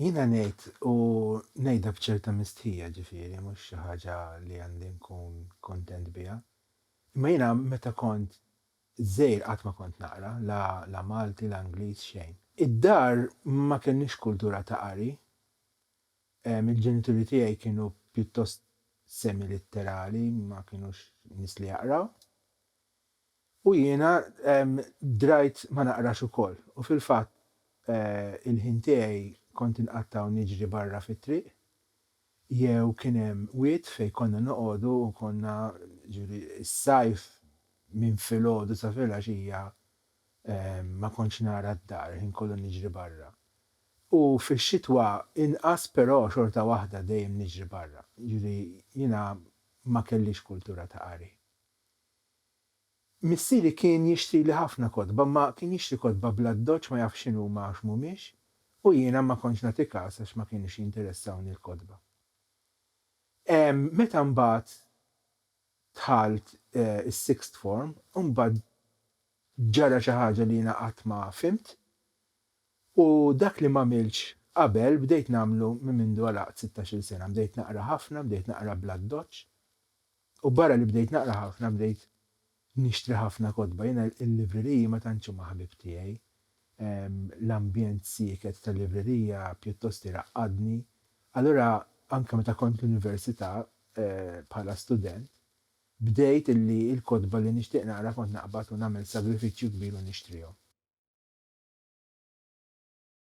Jiena ngħid, u ngħidha b'ċerta mistħija, ġifieri mhux xi ħaġa li għandi nkun kuntent biha, imma jiena meta kont żgħir qatt ma kont naqra, la la Malti, la Ingliż, xejn. Id-dar ma kellniex kultura ta' qari, il-ġenituri tiegħi kienu pjuttost semi-litterali, ma kinux nies li jaqraw. U jiena drajt ma naqrax ukoll, u fil-fatt il-ħin tiegħi kont inqatta' u niġri barra fit-triq, jew kien hemm wied fejn konna noqogħdu u konna, jiġifieri s-sajf minn filgħodu sa filgħaxija ma kontx nara d-dar, il-ħin kollu niġri barra. U fix-xitwa inqas però xorta waħda dejjem niġri barra, jiġifieri jiena ma kellix kultura ta' qari. Missieri kien jixtrili ħafna kotba, imma kien jixtri kotba bl-addoċċ ma jafx x'inhuma għax mhumiex, u jiena ma kontx nagħti kas għax ma kienux jinteressawni l-kotba. Meta mbagħad dħalt is-sixth form, imbagħad ġara xi ħaġa li jiena qatt ma fhimt, u dak li m'għamiltx qabel bdejt nagħmlu minn mindu għalaqt sittax-il sena, bdejt naqra ħafna, bdejt naqra bl-addoċċ, U barra li bdejt naqra ħafna bdejt nixtri ħafna kotba. Jiena l-libreriji ma tantx huma ħbieb tiegħi. L-ambjent sieket tal-librerija pjuttost iraqqadni. Allura anke meta kont l-università bħala student bdejt illi l-kotba li nixtieq naqra kont naqbad u nagħmel sagrifiċċju kbir u nixtrihom.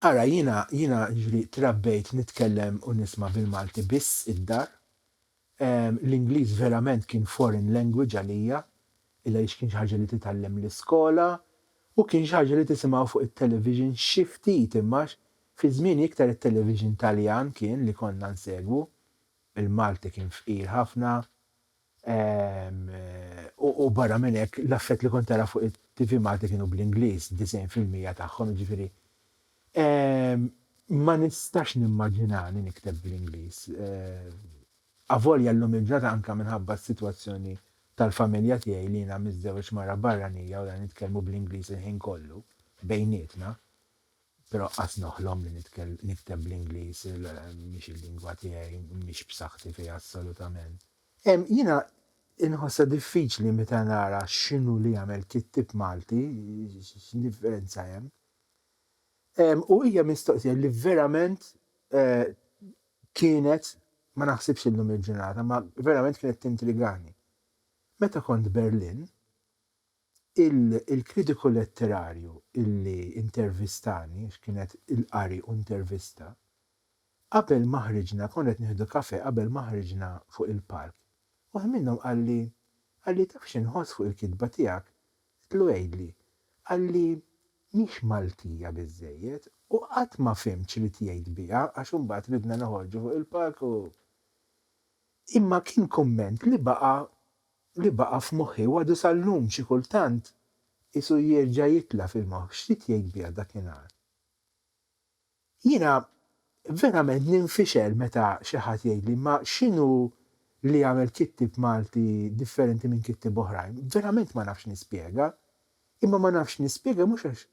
Ara jiena jiena ġri trabbejt nitkellem u nisma' bil-Malti biss id-dar. L-Ingliż verament kien foreign language għalija, illa għaliex kien xi ħaġa li titgħallem l-iskola u kien xi ħaġa li tisimgħu fuq it-television xi ftit imma fi żmieni iktar it-television Taljan kien li konna nsegwu. Il-Malti kien fqir ħafna. U barra minn hekk, l-affett li kont tara fuq it-TV Malti kienu bl-Ingliż, disgħin fil-mija tagħhom, jiġifieri ma nistax nimmaġinani nikteb bl-Ingliż. Avolja llum il-ġurnata anke minħabba s-sitwazzjoni tal-familja tiegħi li jiena miżżewweġ mara barranija u lha nitkellmu bl-Ingliż il-ħin kollu bejnietna. Però qas noħlom li nikteb bl-Ingliż, mhix il-lingwa tiegħi, mhix b'saħħti fiha assolutament. Jiena inħossha diffiċli meta nara x'inhu li jagħmel kittieb Malti, x'differenza hemm. U hija mistoqsija li verament kienet, ma naħsibx illum il-ġurnata, imma verament kienet tintrigani. Meta kont Berlin. Il-kritiku letterarju li intervistani, għax kienet il-qari u intervista, qabel ma ħriġna, konna qed nieħdu kafè qabel ma ħriġna fuq il-palk, waħed minnhom qalli, qalli taf xi nħoss fuq il-kitba tiegħek? Għedtlu għidli. Qalli mhix Maltija biżżejjed u qatt ma fhimt x'ried jgħid biha għax imbagħad ridna noħorġu fuq il-palk u. Imma kien kumment li baqa' li baqa' f'moħħi u għadu sal-lum xi kultant qisu jerġa' jitla' fil-moħħ x'rid jgħid biha dakinhar. Jiena verament ninfixel meta xi ħadd jgħidli imma x'inhu li jagħmel kittieb Malti differenti minn kittieb oħrajn? Verament ma nafx nispjega. Imma ma nafx nispjega mhux għax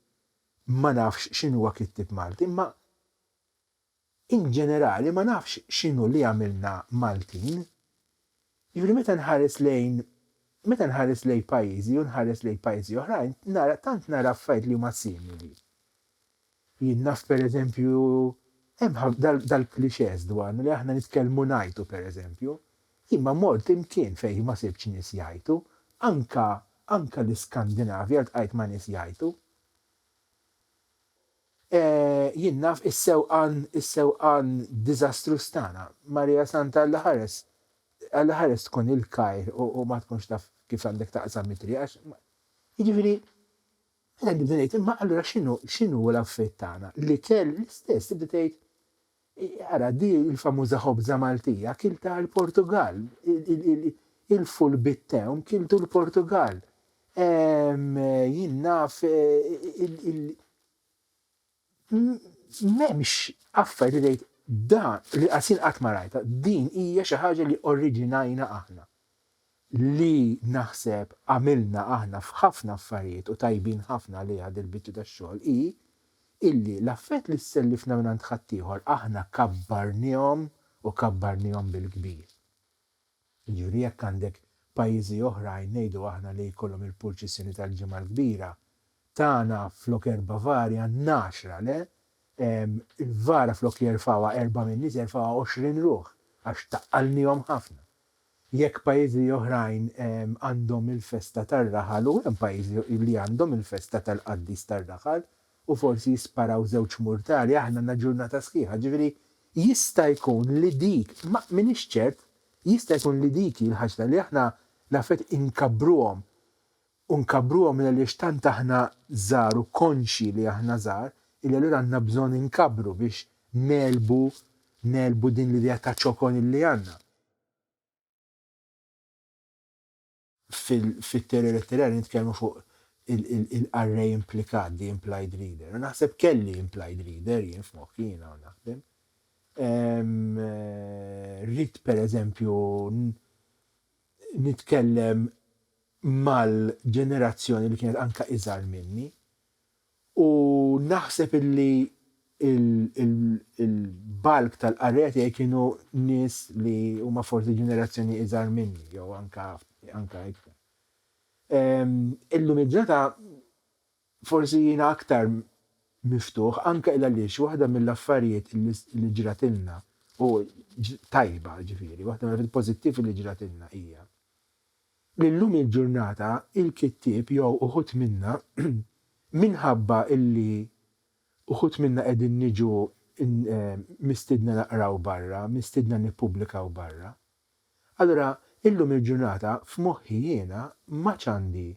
ma nafx x'inhuwa kittieb Malti imma In ġenerali ma nafx x'inhu li jagħmilna Maltin. Jiġifieri meta nħares lejn meta nħares lejn pajjiżi u nħares lejn pajjiżi oħrajn nara tant nara affarijiet li huma simili. Jien naf pereżempju hemm dal-clichés dwarna li aħna nitkellmu ngħajtu pereżempju. Jien ma mort imkien fejn ma sibtx nies jgħajtu, anke anke l-Iskandinavja ltqajt ma' nies jgħajtu. Jien naf is-sewqan, is-sewqan diżastruż tagħna. Marija Santa Alla ħares, Alla ħares tkun il-kajr u ma tkunx taf kif għandek taqsam it-triq għax ma. Jiġifieri, meta nibda ngħid imma allura x'inhu, x'inhu l-għaffiet tagħna? L-ikel l-istess, tibda tgħid, Ara, di l-famuża ħobża Maltija kiltha l-Portugall. Il-full bit-tewm kiltu l-Portugall. Jien naf m'hemmx affarijiet li tgħid da li qasin qatt ma rajtha. Din hija xi ħaġa li oriġinajna aħna. li naħseb għamilna aħna f'ħafna affarijiet u tajbin ħafna għaliha din il-biċċa tax-xogħol hi illi l-affarijiet li sellifna mingħand ħaddieħor aħna kabbarnihom u kabbarnihom bil-kbir. Jiġifieri jekk għandek pajjiżi oħrajn ngħidu aħna li jkollhom il-purċissjoni tal-Ġimgħa l-Kbira, tagħna flok erba' vari għandna għaxra, le? Il-vara flok jerfgħuha erba' min-nies jerfgħuha għoxrin ruħ għax taqalnihom ħafna. Jekk pajjiżi oħrajn għandhom il-festa tar-raħal u hemm pajjiżi li għandhom il-festa tal-qaddis tar-raħal u forsi jisparaw żewġ murtali, aħna għandna ġurnata sħiħa. Ġifieri jista' jkun li dik, ma m'iniex ċert, jista' jkun li dik hi l-ħaġta li aħna nafet inkabbruhom u nkabbruhom għaliex tant aħna żgħar u konxji li aħna żgħar illi allura għandna bżonn inkabbru biex negħlbu negħlbu din l-idea ta' ċokon illi għandna. Fit-teorija letterarja nitkellmu fuq il-qarrej implikat, the implied reader, u naħseb kelli implied reader jien f'moħħi jien hawn naħdem. Rrid pereżempju nitkellem mal-ġenerazzjoni li kienet anke iżgħar minni u naħseb illi l-bulk tal-qarrejja tiegħi kienu nies li huma forsi ġenerazzjoni iżgħar minni jew anke anke iktar. Ehm, illum il-ġurnata forsi jiena aktar miftuħ anke il għaliex waħda mill-affarijiet li ġratilna u tajba ġifieri, waħda mill-affarijiet pożittivi li ġratilna hija Illum il-ġurnata il-kittieb jew uħud minna minħabba illi uħud minna qegħdin niġu mistiedna naqraw barra, mistiedna nippubblikaw barra. Allura illum il-ġurnata f'moħħi jiena m'għadx għandi.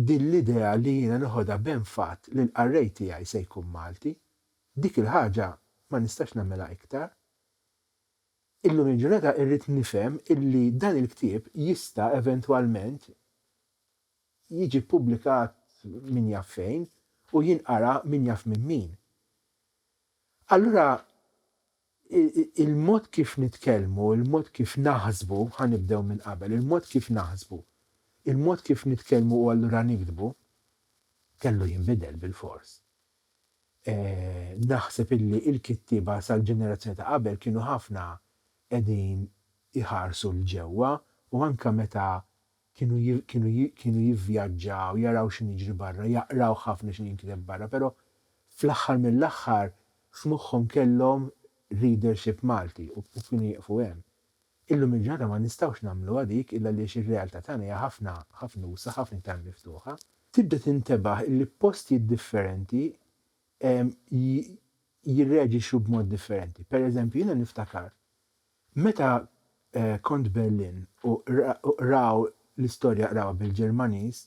Din l-idea li jiena neħodha b'enfat li l-qarrej tiegħi se jkun Malti, dik il-ħaġa ma nistax nagħmilha iktar. Illum il-ġurnata irrid nifhem illi dan il-ktieb jista' eventwalment jiġi ppubblikat min jaf fejn u jinqara min jaf minn min. Allura Il-mod kif nitkellmu, il-mod kif naħsbu, ħa nibdew minn qabel, il-mod kif naħsbu, il-mod kif nitkellmu u allura niktbu, kellu jinbidel bilfors. Naħseb illi il-kittieba sal-ġenerazzjoni ta' qabel kienu ħafna qegħdin iħarsu 'l ġewwa u anke meta Kienu jivvjaġġaw, jaraw x'inhu jiġri barra, jaqraw ħafna x'inhu jinkiteb barra, però fl-aħħar mill-aħħar f'moħħhom kellhom readership Malti u kienu jieqfu hemm. Illum il-ġurnata ma nistgħux nagħmluha dik illa għaliex ir-realtà tagħna hija ħafna ħafna usa' ħafna iktar miftuħa. Tibda tintebaħ illi postijiet differenti jirreaġixxu b'mod differenti. Pereżempju jiena niftakar Meta kont Berlin u qraw l-istorja qrawha bil-Ġermaniż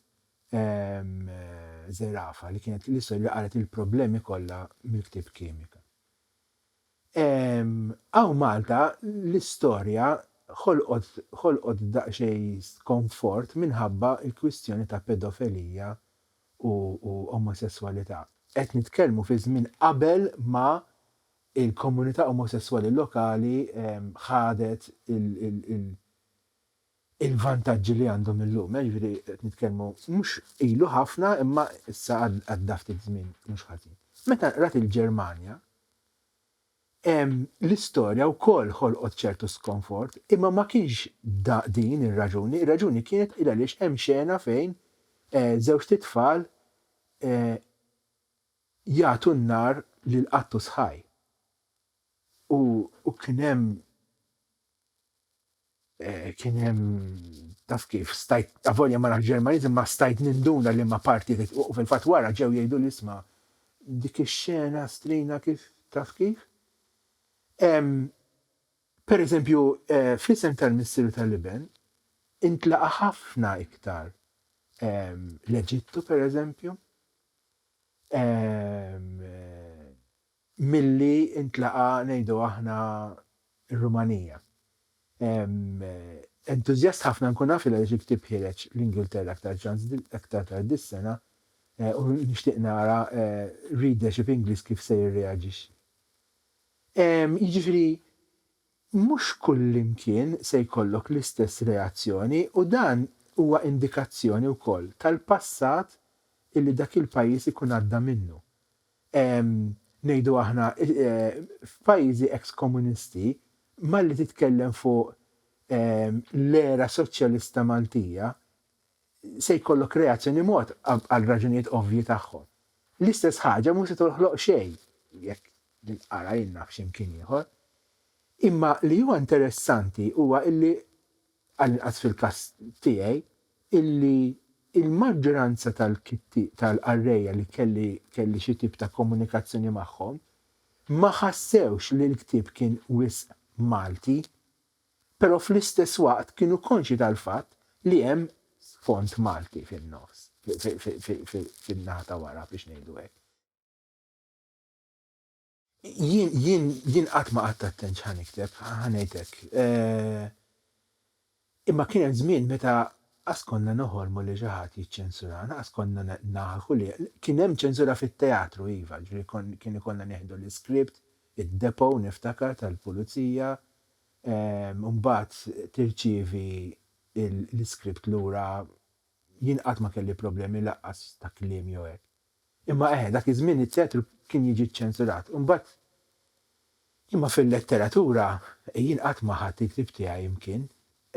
żerafa li kienet l-istorja li qalet il-problemi kollha mill-ktieb Kimika. Hawn Malta l-istorja ħolqot ħolqot daqsxejn skonfort minħabba l-kwistjoni ta' pedofelija u omosesswalità. Qed nitkellmu fi żmien qabel ma Il-komunità omosesswali lokali ħadet il-vantaġġi li għandhom illum, jiġifieri qed nitkellmu mhux ilu ħafna imma issa għadda ftit żmien mhux ħażin. Meta qrajt il-Ġermanja, l-istorja wkoll ħolqot ċertu skonfort, imma ma kienx din ir-raġuni, ir-raġuni kienet il-għaliex hemm xena fejn żewġt itfal Jagħtu n-nar lil qattu sħaj. U kien hemm, kien hemm, taf kif, stajt, avolja ma nafx Ġermaniż imma stajt ninduna liema parti qed u fil-fatt wara ġew jgħiduli isma' dik ix-xena strina kif, taf kif? Pereżempju, fl-isem tal-Missier u tal-Iben intlaqa' ħafna iktar l-Eġittu, pereżempju. milli ntlaqa' ngħidu aħna r-Rumanija. Entużjast ħafna nkun naf li għaliex il-ktieb ħireġ l-Ingilterra aktar ċans aktar tard dis-sena u nixtieq nara readership Ingliż kif se jirreaġixxi. Jiġifieri, Mhux kullimkien se jkollok l-istess reazzjoni u dan huwa indikazzjoni wkoll tal-passat illi dak il-pajjiż ikun għadda minnu. Ngħidu aħna f'pajjiżi ex-komunisti malli titkellem fuq l-era soċjalista Maltija se jkollok reazzjoni mod għal raġunijiet ovvji tagħhom. L-istess ħaġa mhux se toħloq xejn jekk l-inqara jingħaf xi mkien ieħor. Imma li huwa interessanti huwa illi, għall-inqas fil-każ tiegħi, illi l-maġġoranza tal-qarrejja li kelli xi tip ta' komunikazzjoni magħhom ma ħassewx li l-ktieb kien wisq Malti. Però fl-istess waqt kienu konxji tal-fatt li hemm sfond Malti fin-nofs, fin-naħa ta' wara biex ngħidu hekk. Jien, jien qatt ma qgħadt attent x'ħa nikteb, ħa ngħid hekk. Imma kien hemm żmien meta qas konna noħolmu li xi ħadd jiċċensurana, qas konna naħlħu li, kien hemm ċensura fit-teatru iva, jiġifieri kien ikollna nieħdu l-iskript, id-depot niftakar tal-pulizija, mbagħad tirċievi l-iskript lura jien qatt ma kelli problemi laqqas ta' kliem jew hekk. Imma eħe dak iż-żmien it-teatru kien jiġi ċċensurat. Imbagħad imma fil-letteratura jien qatt ma ħadt il-ktieb tiegħi imkien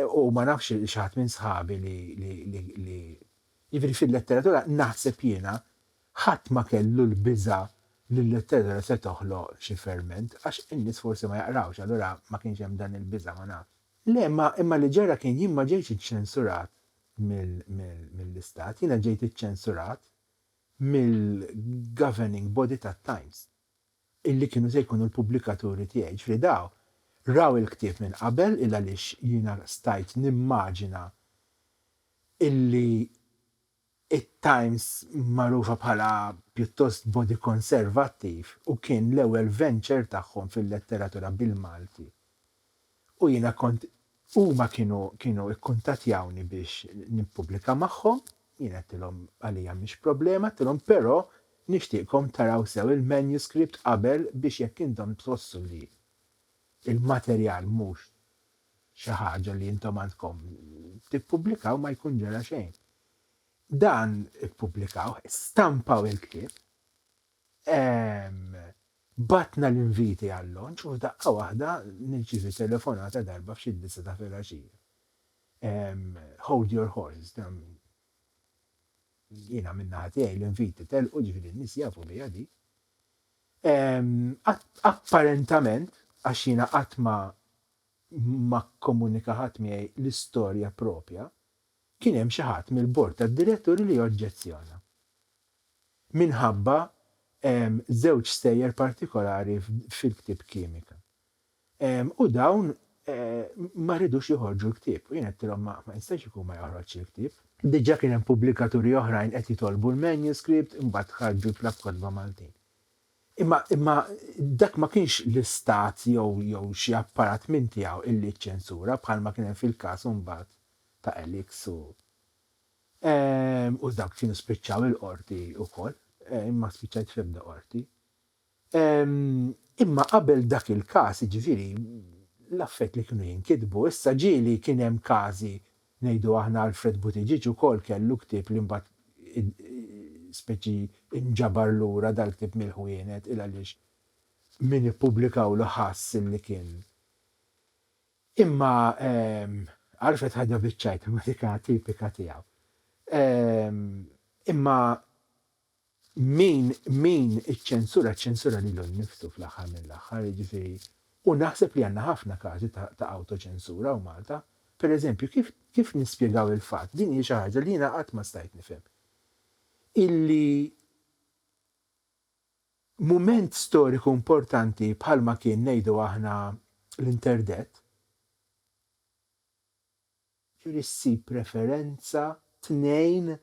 u ma nafx il xi ħadd minn sħabi li li li jiġifieri fil-letteratura naħseb jiena Ħadd ma kellu l-biża' li l-letterera se toħloq xi ferment, għax in-nies forsi ma jaqrawx, allura ma kienx hemm dan il-biża', ma nafx. Le, imma, imma li ġara kien jien ma ġejtx iċċensurat mill, mill, mill-Istat, jiena ġejt iċċensurat mill-governing body tat-Times, illi kienu se jkunu l-pubblikaturi tiegħi, jiġifieri daw raw il-ktieb minn qabel il-għaliex jiena stajt nimmaġina illi, it-Times magħrufa bħala pjuttost body konservattiv u kien l-ewwel venture tagħhom fil-letteratura bil-Malti. U jiena kont huma kienu kienu ikkuntattjawni biex nippubblika magħhom, jiena għedtilhom għalija mhix problema, għedtilhom però nixtieqkom taraw sew il-manuscript qabel biex jekk intom tħossu li l-materjal mhux xi ħaġa li intom għandkom tippubblikaw ma jkun ġara xejn. Dan ippubblikawh, stampaw il-ktieb, batna l-inviti għall-lonċ u f'daqqa waħda nirċivi telefonata darba f'xi disa ta' filgħaxija. Hold your horses, dan jiena minna ħatijaj l-inviti telqu ġifiri nis jafu li għadi, Apparentament, għax jiena qatt ma ma kkomunika ħadd miegħi l-istorja proprja, kien hemm xi ħadd mill-Bord tad-Diretturi li oġġezzjona minħabba żewġ stejjer partikolari fil-ktieb Kimika. U dawn ma ridux joħorġu l-ktieb. U jien għedtilhom ma jistax ikun ma joħroġx il-ktieb. Diġà kien hemm pubblikaturi oħrajn qed jitolbu l-manuscript, imbagħad ħarġu l-Klabb Kotba Maltin. Imma imma dak ma kienx l-Istat jew jew xi apparat minn tiegħu illi ċċensura bħalma kien hemm fil-każ imbagħad ta' Elix u u dawk kienu spiċċaw il-Qorti wkoll. Jien ma spiċċajt fl-ebda Qorti. Imma qabel dak il-każ, jiġifieri, l-affarijiet li kienu jinkitbu, issa ġieli kien hemm każi, ngħidu aħna Alfred Buttigieg ukoll kellu ktieb li mbagħad speċi inġabar lura dal-ktieb mill-ħwienet il għaliex min ippubblikawlu ħass li kien Imma Alfred ħadha biċ-ċajt imma dik tipika tiegħu. Imma. Min min iċċensura ċċensura lilu nnifsu fl-aħħar mill-aħħar, jiġifieri u naħseb li għandna ħafna każi ta' ta' awtoċensura hawn Malta. Pereżempju, kif kif nispjegaw il-fatt, din hi xi ħaġa li jiena qatt ma stajt nifhem, illi mument storiku importanti bħalma kien ngħidu aħna l-interdeath, Trid ssib preferenza, tnejn,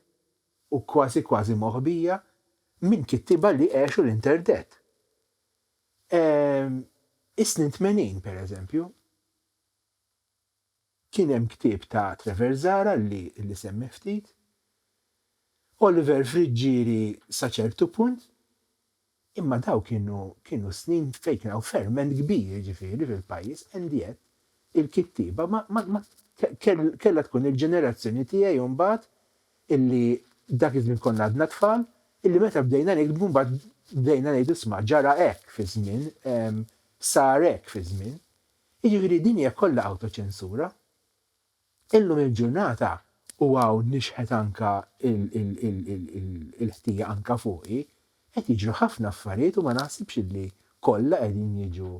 u kważi kważi moħbija, minn kittieba li għexu l-interdett. Ehm, is-snin tmenin, per eżempju, kien hemm ktieb ta' Trevor Zahra li li semmih ftit, Oliver Friggieri sa ċertu punt, Imma dawk kienu kienu snin fejn kien hawn ferment kbir jiġifieri fil-pajjiż and yet il-kittieba ma ma ma kellha tkun il-ġenerazzjoni tiegħi u mbagħad illi dak iż-żmien konna għadna tfal illi meta bdejna niktbu mbagħad bdejna ngħidu isma' ġara hekk fi żmien sar hekk fi żmien. Jiġifieri din hija kollha awtoċensura. Illum il-ġurnata u hawn nixħet anka il-ħtija anka fuqi, qed jiġru ħafna affarijiet u ma naħsibx illi kollha qegħdin jiġu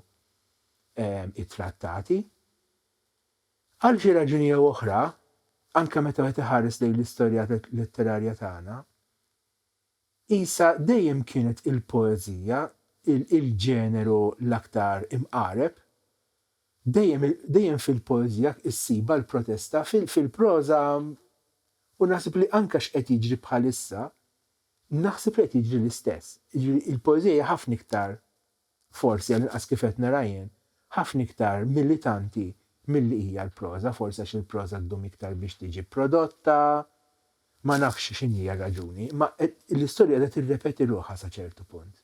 ittrattati. Għal xi raġuni jew oħra, anka meta wieħed iħares lejn l-istorja letterarja tagħna, Qisha dejjem kienet il-poeżija il-ġeneru l-aktar imqareb. Dejjem dejjem fil-poeżija ssibha l-protesta, fil-proża u naħseb li anke x'qed jiġri bħalissa, naħseb li qed jiġri l-istess. Jiġifieri l-poeżija hija ħafna iktar Forsi, għall-inqas kif qed nara jien, ħafna iktar militanti milli hija l-proża, forsi għax il-proża ddum iktar biex tiġi prodotta, ma nafx x'inhija r-raġuni, imma l-istorja qiegħda tirrepeti ruħha sa ċertu punt.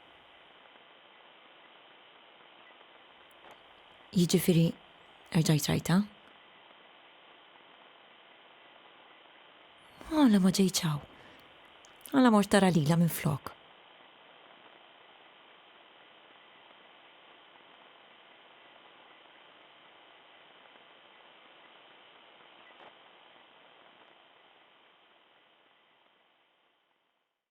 Jiġifieri erġajt rajtha? Għala ma ġejtx hawn? Għala mort tara lilha minflok?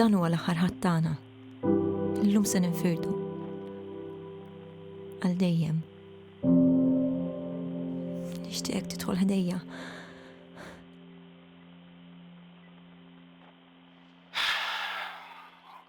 Dan huwa l-aħħar ħadd tagħna. Illum se ninfirdu. Għal dejjem. Nixtieqek tidħol ħdejja.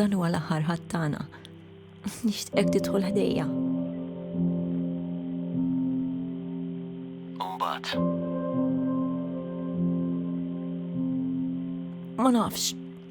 Dan huwa l-aħħar ħadd tagħna. Nixtieqek tidħol ħdejja. Umbagħad. Ma nafx,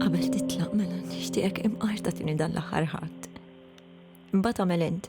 Qabel titlaq mela nixtieqek imqarta tini dan l-aħħar ħadd. Imbagħad tagħmel int.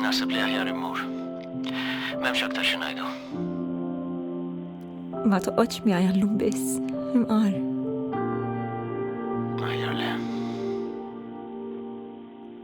Naħseb li aħjar immur. M'hemmx aktar xi ngħidu. Ma toqgħodx miegħi għallum biss, imqar. Aħjar le.